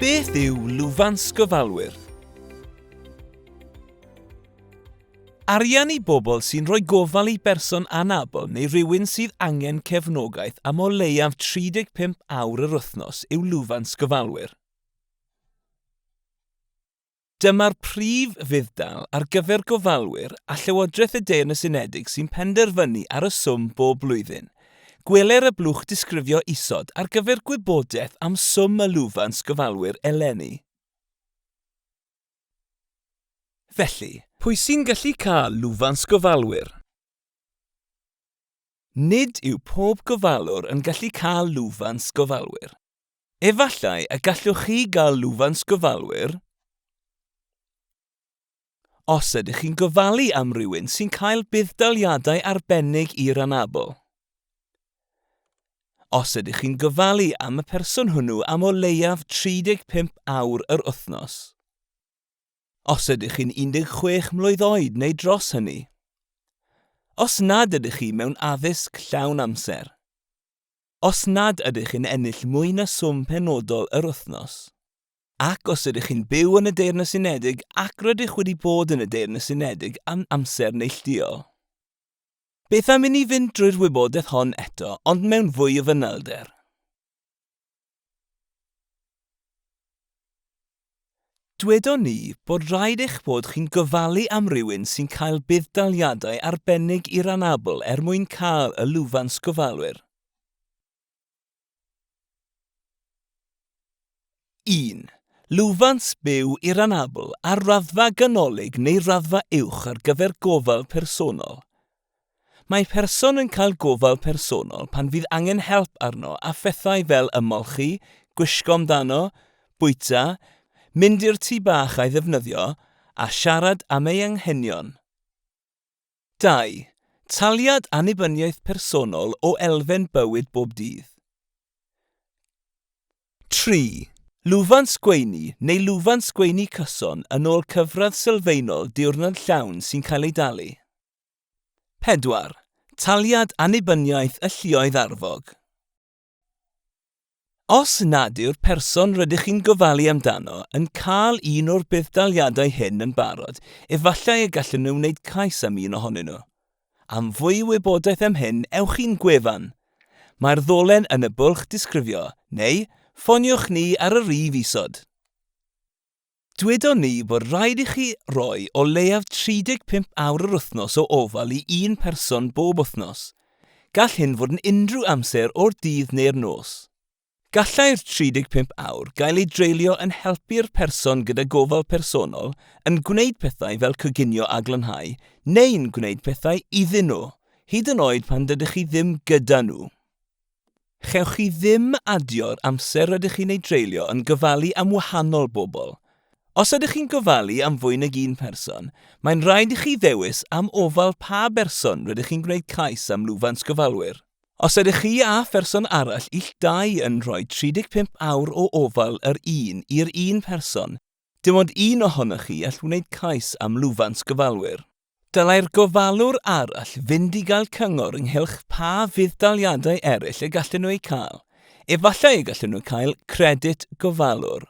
Beth yw lwfans gofalwyr? Arian i bobl sy'n rhoi gofal i berson anabl neu rywun sydd angen cefnogaeth am o leiaf 35 awr yr wythnos yw lwfans gofalwyr. Dyma'r prif fudd-dal ar gyfer gofalwyr a Llywodraeth y Deyrnas Unedig sy'n penderfynu ar y swm bob blwyddyn. Gweler y blwch disgrifio isod ar gyfer gwybodaeth am swm y lwfans gofalwyr eleni. Felly, pwy sy'n gallu cael lwfans gofalwyr? Nid yw pob gofalwr yn gallu cael lwfans gofalwyr. Efallai y gallwch chi gael lwfans gofalwyr os ydych chi'n gofalu am rywun sy'n cael budd-daliadau arbennig i'r anabl. Os ydych chi'n gofalu am y person hwnnw am o leiaf 35 awr yr wythnos. Os ydych chi'n 16 mlwydd oed neu dros hynny. Os nad ydych chi mewn addysg llawn amser. Os nad ydych yn ennill mwy na swm penodol yr wythnos, ac os ydych chi'n byw yn y Deyrnas Unedig ac rydych wedi bod yn y Deyrnas Unedig am amser neillduol. Beth am i ni fynd drwy'r wybodaeth hon eto ond mewn fwy o fanylder? Dwedon ni bod rhaid eich bod chi'n gofalu am rywun sy'n cael budd-daliadau arbennig i'r anabl er mwyn cael y lwfans gofalwyr. 1. Lwfans byw i'r anabl ar raddfa ganolig neu raddfa uwch ar gyfer gofal personol, Mae person yn cael gofal personol pan fydd angen help arno a phethau fel ymolchi, gwisgo amdano, bwyta, mynd i'r tŷ bach a'i ddefnyddio, a siarad am ei anghenion. 2. Taliad Annibyniaeth Personol o elfen bywyd bob dydd. 3. Lwfans gweini neu lwfans gweini cyson yn ôl cyfradd sylfaenol diwrnod llawn sy'n cael ei dalu. 4. Taliad annibyniaeth y lluoedd arfog. Os nad yw'r person rydych chi'n gofalu amdano yn cael un o'r budd-daliadau hyn yn barod, efallai y gallen nhw wneud cais am un ohonyn nhw. Am fwy o wybodaeth am hyn, ewch i'n gwefan. Mae'r ddolen yn y bwlch disgrifio, neu ffoniwch ni ar y rif isod. Dywedon ni bod rhaid i chi roi o leiaf 35 awr yr wythnos o ofal i un person bob wythnos. Gall hyn fod yn unrhyw amser o'r dydd neu'r nos. Gallai'r 35 awr gael eu dreulio yn helpu'r person gyda gofal personol, yn gwneud pethau fel coginio a glanhau, neu'n gwneud pethau iddyn nhw, hyd yn oed pan dydych chi ddim gyda nhw. Chewch chi ddim adio'r amser rydych chi'n ei dreulio yn gofalu am wahanol bobl. Os ydych chi'n gofalu am fwy nag un person, mae'n rhaid i chi ddewis am ofal pa berson rydych chi'n gwneud cais am lwfans gofalwyr. Os ydych chi a pherson arall ill dau yn rhoi 35 awr o ofal yr un i'r un person, Dim ond un ohonoch chi all wneud cais am lwfans gofalwyr. Dylai'r gofalwr arall fynd i gael cyngor ynghylch pa fudd-daliadau eraill y gallen nhw eu cael. Efallai y gallen nhw cael credyd gofalwr.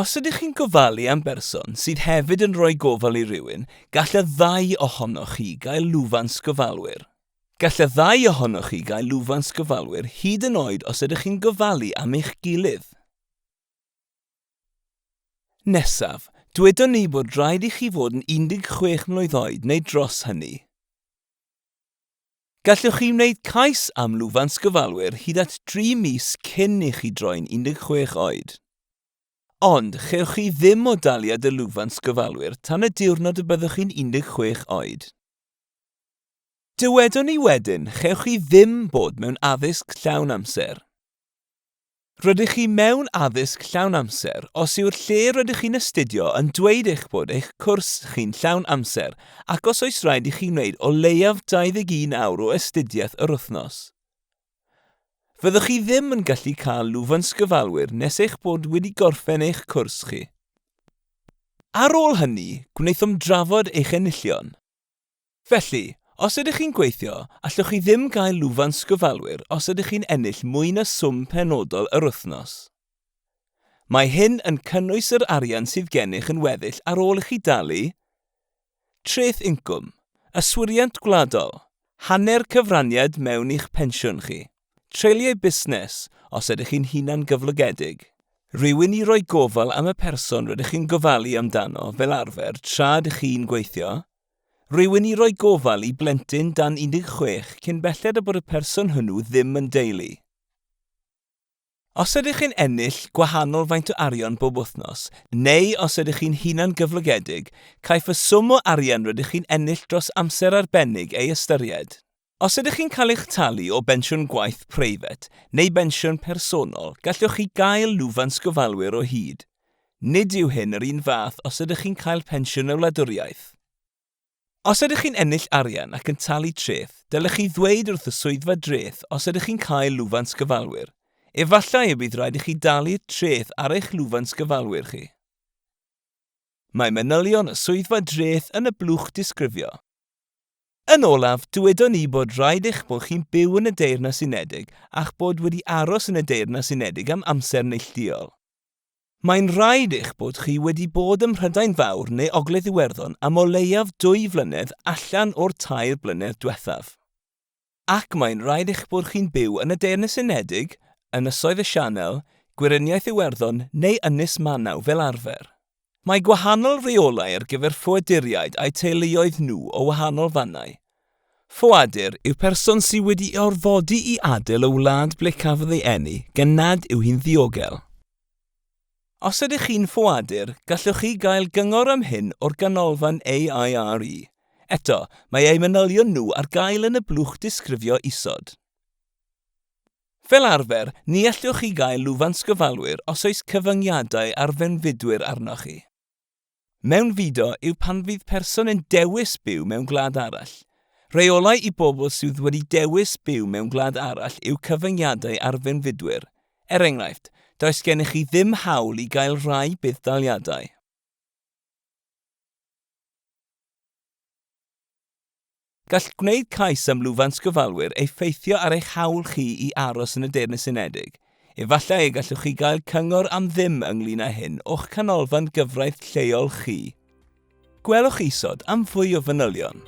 Os ydych chi'n gofalu am berson sydd hefyd yn rhoi gofal i rywun, gall y ddau ohonoch chi gael lwfans gofalwyr. Gall y ddau ohonoch chi gael lwfans gofalwyr hyd yn oed os ydych chi'n gofalu am eich gilydd. Nesaf, dywedon ni bod rhaid i chi fod yn 16 mlwydd oed neu dros hynny. Gallwch chi wneud cais am lwfans gofalwyr hyd at dri mis cyn i chi droi'n 16 oed. Ond, chewch chi ddim o daliad y lwfans gofalwyr tan y diwrnod y byddwch chi'n 16 oed. Dywedon ni wedyn, chewch chi ddim bod mewn addysg llawn amser. Rydych chi mewn addysg llawn amser os yw'r lle rydych chi'n astudio yn dweud eich bod eich cwrs chi'n llawn amser ac os oes rhaid i chi wneud o leiaf 21 awr o astudiaeth yr wythnos. Fyddwch chi ddim yn gallu cael lwfans gyfalwyr nes eich bod wedi gorffen eich cwrs chi. Ar ôl hynny, gwnaethom drafod eich enillion. Felly, os ydych chi'n gweithio, allwch chi ddim gael lwfans sgyfalwyr os ydych chi'n ennill mwy na swm penodol yr wythnos. Mae hyn yn cynnwys yr arian sydd gennych yn weddill ar ôl i chi dalu Treth Incwm, Yswiriant Gwladol, hanner cyfraniad mewn i'ch pensiwn chi. Treuliau busnes, os ydych chi'n hunan gyflogedig. Rhywun i roi gofal am y person rydych chi'n gofalu amdano fel arfer tra ydych chi'n gweithio. Rhywun i roi gofal i blentyn dan 16 cyn belled â bod y person hwnnw ddim yn deulu. Os ydych chi'n ennill gwahanol faint o arian bob wythnos, neu os ydych chi'n hunan-gyflogedig, caiff y swm o arian rydych chi'n ennill dros amser arbennig ei ystyried. Os ydych chi'n cael eich talu o bensiwn gwaith preifat neu bensiwn personol, gallwch chi gael lwfans gofalwyr o hyd. Nid yw hyn yr un fath os ydych chi'n cael pensiwn y wladwriaeth. Os ydych chi'n ennill arian ac yn talu treth, dylech chi ddweud wrth y Swyddfa Dreth os ydych chi'n cael lwfans gyfalwyr. Efallai y bydd rhaid i chi dalu'r treth ar eich lwfans gyfalwyr chi. Mae manylion y Swyddfa Dreth yn y blwch disgrifio. Yn olaf, dywedon ni bod rhaid eich bod chi'n byw yn y Deyrnas Unedig a'ch bod wedi aros yn y Deyrnas Unedig am amser neillduol. Mae'n rhaid eich bod chi wedi bod ym Mhrydain Fawr neu Ogledd Iwerddon am o leiaf dwy flynedd allan o'r tair blynedd diwethaf. Ac mae'n rhaid eich bod chi'n byw yn y Deyrnas Unedig, Ynysoedd y Sianel, Gweriniaeth Iwerddon neu Ynys Manaw fel arfer. Mae gwahanol reolau ar gyfer ffoaduriaid a'u teuluoedd nhw o wahanol fannau. Ffoadur yw person sydd wedi ei orfodi i adael y wlad ble cafodd ei eni, gan nad yw hi'n ddiogel. Os ydych chi'n ffoadur, gallwch chi gael cyngor am hyn o'r Ganolfan AIRE. Eto, mae eu manylion nhw ar gael yn y blwch disgrifio isod. Fel arfer, ni allwch chi gael lwfans gyfalwyr os oes cyfyngiadau ar fewnfudwyr arnoch chi. Mewnfudo yw pan fydd person yn dewis byw mewn gwlad arall. Rheolau i bobl sydd wedi dewis byw mewn gwlad arall yw cyfyngiadau ar fewnfudwyr. Er enghraifft, does gennych chi ddim hawl i gael rhai budd-daliadau. Gall gwneud cais am lwfans gofalwyr effeithio ar eich hawl chi i aros yn y Deyrnas Unedig. Efallai y gallwch chi gael cyngor am ddim ynglŷn â hyn o'ch canolfan gyfraith lleol chi. Gwelwch isod am fwy o fanylion.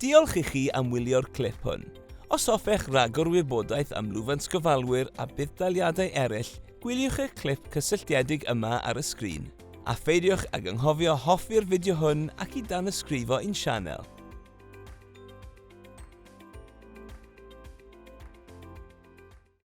Diolch i chi am wylio'r clip hwn. Os hoffech ragor wybodaeth am lwfans gofalwyr a budd-daliadau eraill, gwyliwch y clip cysylltiedig yma ar y sgrin. A pheidiwch ag anghofio hoffi'r fideo hwn ac i danysgrifo i'n sianel.